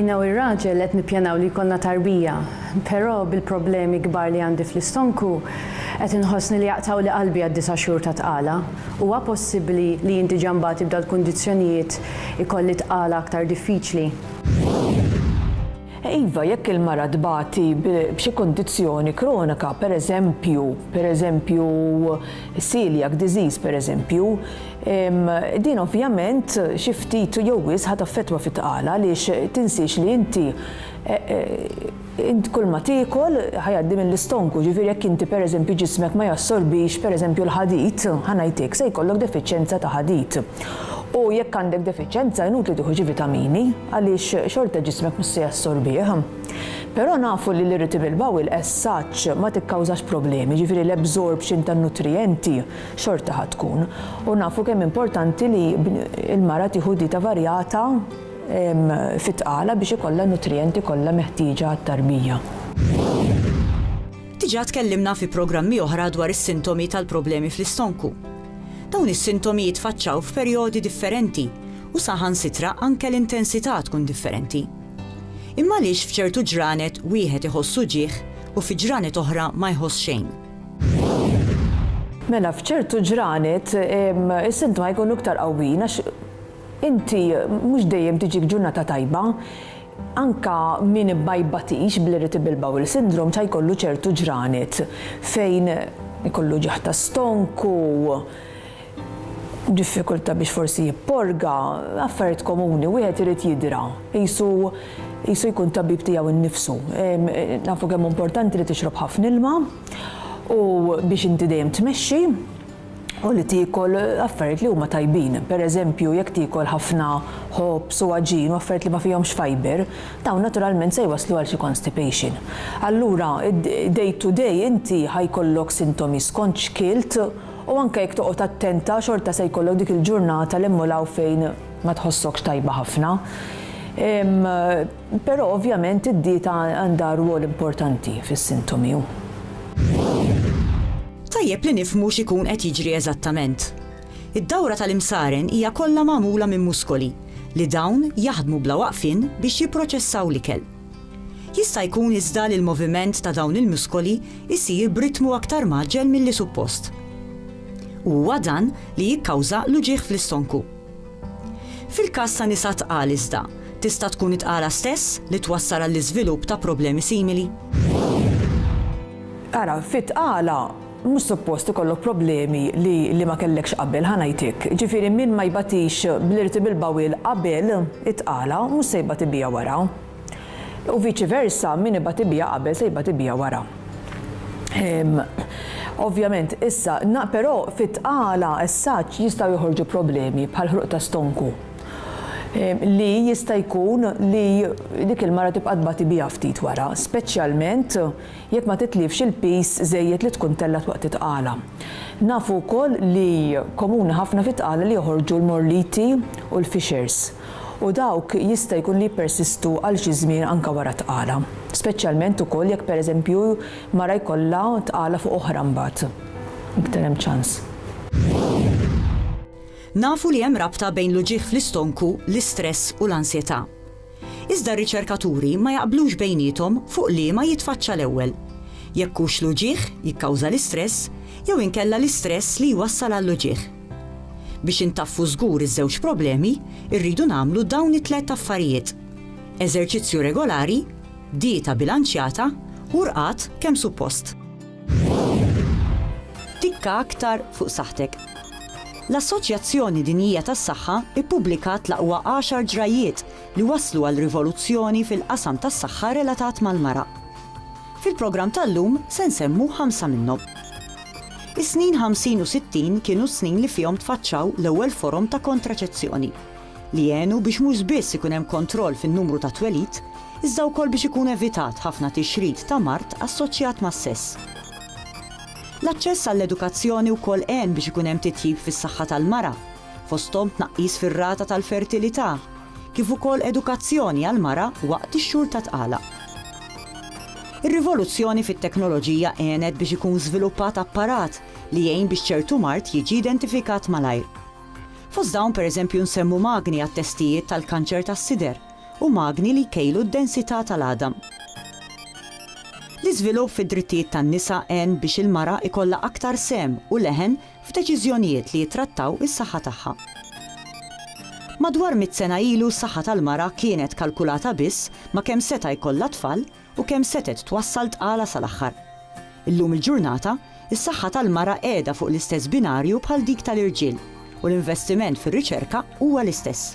Jiena u r-raġel qed nippjanaw li jkollna tarbija, però bil-problemi kbar li għandi fl-istonku, qed inħossni li jaqtgħuli qalbi għad-disa' xhur ta' tqala. Huwa possibbli li inti ġa mbagħad tibda l-kundizzjonijiet ikolli tqala aktar diffiċli? Iva, jekk il-mara tbati b'xi kundizzjoni kronika, pereżempju, pereżempju, celiac disease, pereżempju, din ovvjament xi ftit jew wisq ħa taffettwa fit-tqala għaliex tinsiex li inti, Int kull ma tiekol ħa jgħaddi mill-istonku, jiġifieri jekk inti pereżempju ġismek ma jassorbix pereżempju l-ħadid, ħa ngħidlek, se jkollok defiċjenza ta' ħadid. U jekk għandek defiċjenza inutli tieħu xi vitamini għaliex xorta ġismek mhux se jassorbih. Però nafu li l-irritable bowel as such ma tikkawżax problemi, jiġifieri l-absorption tan-nutrijenti xorta ħa tkun. U nafu kemm importanti li l-mara tieħu dieta varjata, fit-tqala biex ikollha n-nutrijenti kollha meħtieġa għat-tarbija. Diġà tkellimna fi programmi oħra dwar is-sintomi tal-problemi fl-istonku. Dawn is-sintomi jitfaċċaw f'perjodi differenti u saħansitra anke l-intensità tkun differenti. Imma għaliex f'ċertu ġranet wieħed iħoss uġigħ u fi ġranet oħra ma jħoss xejn? Mela f'ċertu ġranet is-sintma jkunu iktar qawwijin għax Inti mhux dejjem tiġik ġurnata tajba. Anke min ma jbatix bl-irritable bowel syndrome ta' jkollu ċertu ġranet fejn ikollu ġieħ ta' stonku, diffikultà biex forsi jipporga, affarijiet komuni. Wieħed irid jidra, qisu qisu jkun tabib tiegħu nnifsu. Nafu kemm hu importanti li tixrob ħafna ilma u biex inti dejjem tmexxi. u li tiekol affarijiet li huma tajbin. Per eżempju, jekk tiekol ħafna ħobż u għaġin u affarijiet li ma fihomx fibre, dawn naturalment se jwasslu għal xi constipation. Allura, day to day inti ħa jkollok sintomi skont x'kilt u anke jekk toqgħod attenta xorta se jkollok dik il-ġurnata l' hemm u l hawn fejn ma tħossokx tajba ħafna. Però ovvjament id-dieta għandha rwol importanti fis-sintomi u. Tajjeb li nifhmu x'ikun qed jiġri eżattament. Id-dawra tal-imsaren hija kollha magħmula minn muskoli li dawn jaħdmu bla waqfien biex jipproċessaw l-ikel. Jista' jkun iżda li l-moviment ta' dawn il-muskoli jsir b'ritmu aktar mgħaġġel milli suppost. U huwa dan li jikkawża l-uġigħ fl-istonku. Fil-każ ta' nisa tqal iżda, tista' tkun it-tqala stess li twassal għall-iżvilupp ta' problemi simili. Ara, fit-tqala mhux suppost ikollok problemi li ma kellekx qabel, ħa ngħidlek. Jiġifieri min ma jbatix bl-irtibil bowel qabel it-tqala mhux se jbati biha wara. U viċi versa, min ibgħat ibija qabel se jibgħat ibija wara. Ovvjament, issa, però fit-tqala as-saġġ jistgħu joħorġu problemi bħal ħruq ta' stonku li jista' jkun li dik il-mara tibqa' tbati biha ftit wara, speċjalment jekk ma titlifx il-piż żejjed li tkun tellgħet waqt it-tqala. Nafu wkoll li komuni ħafna fit-tqala li joħorġu l-morliti u l-fixers. u dawk jista' jkun li jippersistu għal xi żmien anke wara t-tqala, speċjalment ukoll jekk pereżempju mara jkollha tqala fuq oħra mbagħad, iktar hemm ċans. Nafu li hemm rabta bejn l-uġigħ fl-istonku, l-istress u l-ansjetà. Iżda r-riċerkaturi ma jaqblux bejniethom fuq liema jitfaċċa l-ewwel, jekk hux l-uġigħ jikkawża l-istress jew inkella l-istress li jwassal għall-uġigħ. Biex intaffu żgur iż-żewġ problemi, irridu nagħmlu dawn it-tliet affarijiet, eżerċizzju regolari, dieta bilanċjata u rqad kemm suppost. Tikka aktar fuq saħħtek. L-Assoċjazzjoni Dinjija tas-Saħħa ppubblikat l-aqwa għaxar ġrajjiet li wasslu għal rivoluzzjoni fil-qasam tas-saħħa relatat mal-mara. Fil-programm tal-lum se nsemmu ħamsa minnhom. Is-snin ħamsin u sittin kienu s-snin li fihom tfaċċaw l-ewwel forom ta' kontraċezzjoni, li għenu biex mhux biss ikun hemm kontroll fin-numru tat-twelid, iżda wkoll biex ikun evitat ħafna tixrid ta' mard assoċjat mas-sess. L-aċċess għall-edukazzjoni wkoll għen biex ikun hemm titjib fis-saħħa tal-mara, fosthom tnaqqis fir-rata tal-fertilità, kif ukoll edukazzjoni għall-mara waqt ix-xhur ta' tqala. Ir-rivoluzzjoni fit-teknoloġija għenet biex ikun żviluppat apparat li jgħin biex ċertu mard jiġi identifikat malajr. Fost dawn pereżempju nsemmu magni għat-testijiet tal-kanċer tas-sider u magni li jkejlu d-densità tal-għadam. L-iżvilupp fid-drittijiet tan-nisa għen biex il-mara jkollha aktar sehem u leħen f'deċiżjonijiet li jittrattaw is-saħħa tagħha. Madwar mitt sena ilu s-saħħa tal-mara kienet kalkulata biss ma' kemm seta' jkollha tfal u kemm setgħet twassal tqala sal-aħħar. Illum il-ġurnata, is-saħħa tal-mara qiegħda fuq l-istess binarju bħal dik tal-irġiel u l-investiment fir-riċerka huwa l-istess.